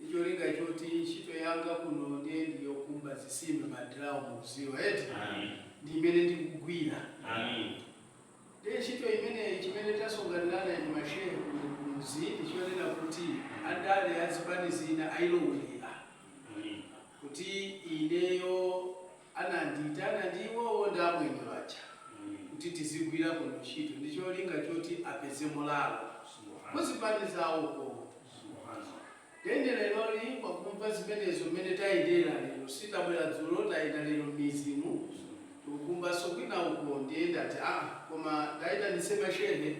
ndi cholinga choti ntchito yanga kuno ndiye ndi yokumba zisime ma drum mukuziwa eti ndi imene ndikugwira ndiye ntchito imeneyi chimene tasonkhanirana ndi ma shehe kuno kumudzi ndi chonena kuti andale a zipani zina ayilowelera kuti ineyo Anandiitana ndi iwowo ndi amwenye aja kuti tizigwira kuno ntchito ndi cholinga choti apeze molalo ku zipani zawoko. Then leroli kwakumva zimenezo mmene tayendera lero sitabwera dzulo tayenda lero mmidzimu tikukumbanso kwina uko ndiye ndati aa koma ndaitanitse mashehe.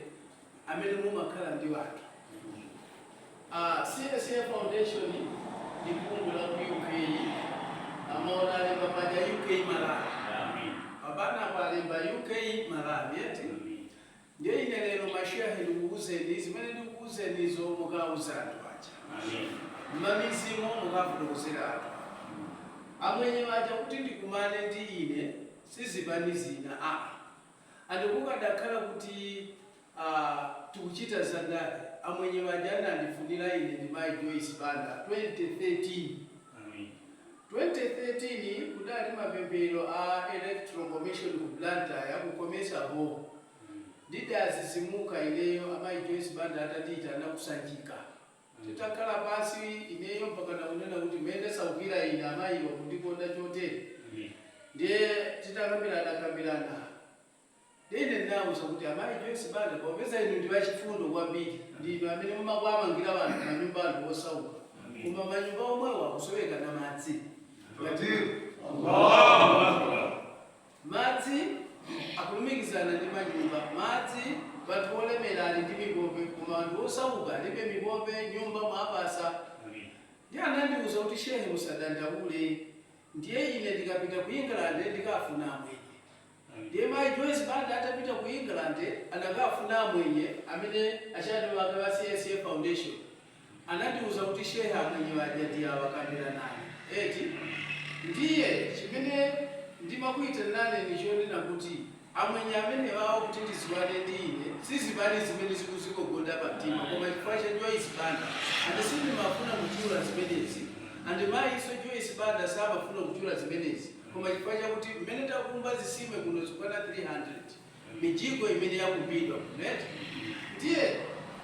amene mumakhala ndi anthu a CSA foundation ndi bungwe la ku UK amaona alemba paja UK Malawi pabana apo alemba UK Malawi eti ndiye ine lero mashehe ndikukuuzeni zimene ndikukuuzenizo mukauza anthu aja mmamidzimu mukafotokozera anthu amwenye aja kuti ndikumane ndi ine sizipani zina a Ndi kukadakhala kuti tikuchita za ndale amwenye aja anandifunira ine ndi mayi Joyce Banda 2013. 2013 kudali mapemphero a electoral commission ku Blantyre ku Comesa hall. Ndidazizimuka ineyo amayi Joyce Banda atandiitana ku Sanjika. Titakhala pansi, ineyo mpakana kunena kuti mene ndasaukira ine amayiwa kundikonda chotere ndiye titakambiranakambirana ndiye ine ndinawauza kuti amayi Joyce Banda popeza inu ndi achifundo kwambiri ndinu amene mumakuamangira anthu manyumba anthu osauka koma manyumba omwewo akusowekanso madzi ngati Madzi akulumikizana ndi manyumba. Madzi anthu olemera ali ndi mipope koma anthu osauka alibe mipope nyumba mwawapasa ndiye anandiuza kuti shehe musadandaule ndiye ine ndikapita ku England ndikaafuna amwenye ndiye mai Joyce Banda atapita ku England anakaafuna amwenye amene a chair wake wa CSA foundation Anandiuza kuti shehe amwenye aja ndi awa kambirana naye eti? Ndiye chimene ndimakuitaniraneni ni chonena kuti amwenye amenewawa kuti ndiziwane ndi ine si zipani zimene zikuzigogoda pa mtima koma chifukwa cha Joyce Banda and sindimafuna kuchula zimenezi and mayiso Joyce Banda samafuna kuchula zimenezi koma chifukwa chakuti mmene takumba zisime kuno zikwana 300 mijigo imene yakumbidwa ku net ndiye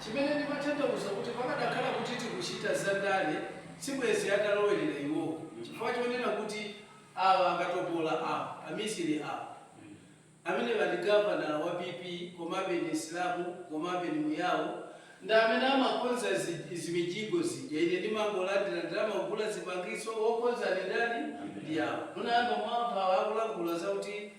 chimene ndimathandauza kuti pakadakhala kuti tikuchita za ndale sibwezi atalowerera iwowo chifukwa chonena kuti awa akatopola awa amisili awa amenewa ndi gavanala wa PP komabe ndi Msilamu komabe ndi Muyao ndi amene amakonza zimijigo zija ine ndimangolandira ndalama kugula zipangizo wokonza ndi ndani ndi awa munayamba mwamva awa akulankhula zakuti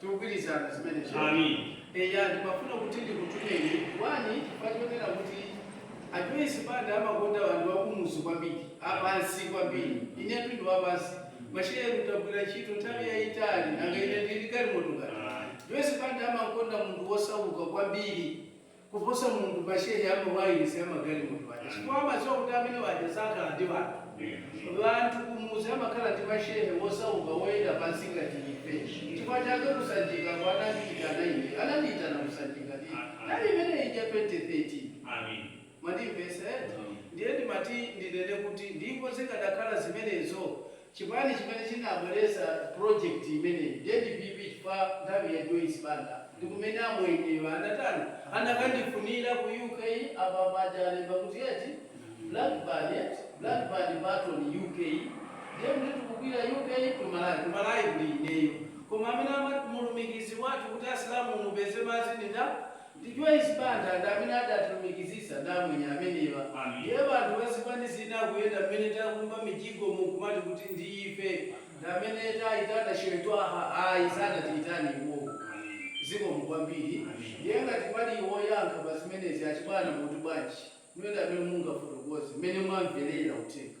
Tikugwirizana zimenezo. Amen. Eya, ndikufuna kuti ndikutumeni, 1 chifukwa chonena kuti a Joyce Banda amakonda anthu akumuzi kwambiri, a pansi kwambiri. Inetu ndi wa pansi. Mashehe tagwira ntchito nthawi yaitali, nanga ine ndili ndi galimoto ngati? Joyce Banda amakonda munthu wosauka kwambiri. kuposa munthu mashehe a ma wayilesi a magalimoto aja chifukwa amadziwa kuti amene aja sakhala ndi wanthu. Wanthu kumudzi amakhala ndi mashehe wosauka woyenda pansi ngati ife. Nchifukwa chake ku Sanjika anandiitana ine. Anandiitana ku Sanjika ndi nthawi imene ija 2013. Mwandimvetsa eti? Ndiye ndimati ndinene kuti ndiikonze zikadakhala zimenezo Chipani chimene chinabweretsa project imeneyi ndiye ndi PP chifukwa nthawi ya Joyce Banda ndi kumene amwenyewa anatani? Anakandifunira ku UK, apa paja alemba kuti eti Blackburn eti, Blackburn Burton UK ndiye kuti tikugwira UK to Malawi, ku Malawi kuli ineyo. Koma amene mulumikizi wathu kuti asilamu mupeze madzi ndi nda? Ndi Joyce Banda ndi amene adatilumikizitsa ndi amwenye amenewa. Ndiye banthu ba zipani zina kuyenda mmene takumba mijigomu nkumati kuti ndi ife ndi amene taitana Shehe Twaha ayi sanatiitane iwowo. Zikomo kwambiri. Ndiye ngati pali woyankha pa zimenezi achibwana mutu bwanji? Inuyo ndi amene mungafotokoze mmene mwamvelera uthenga.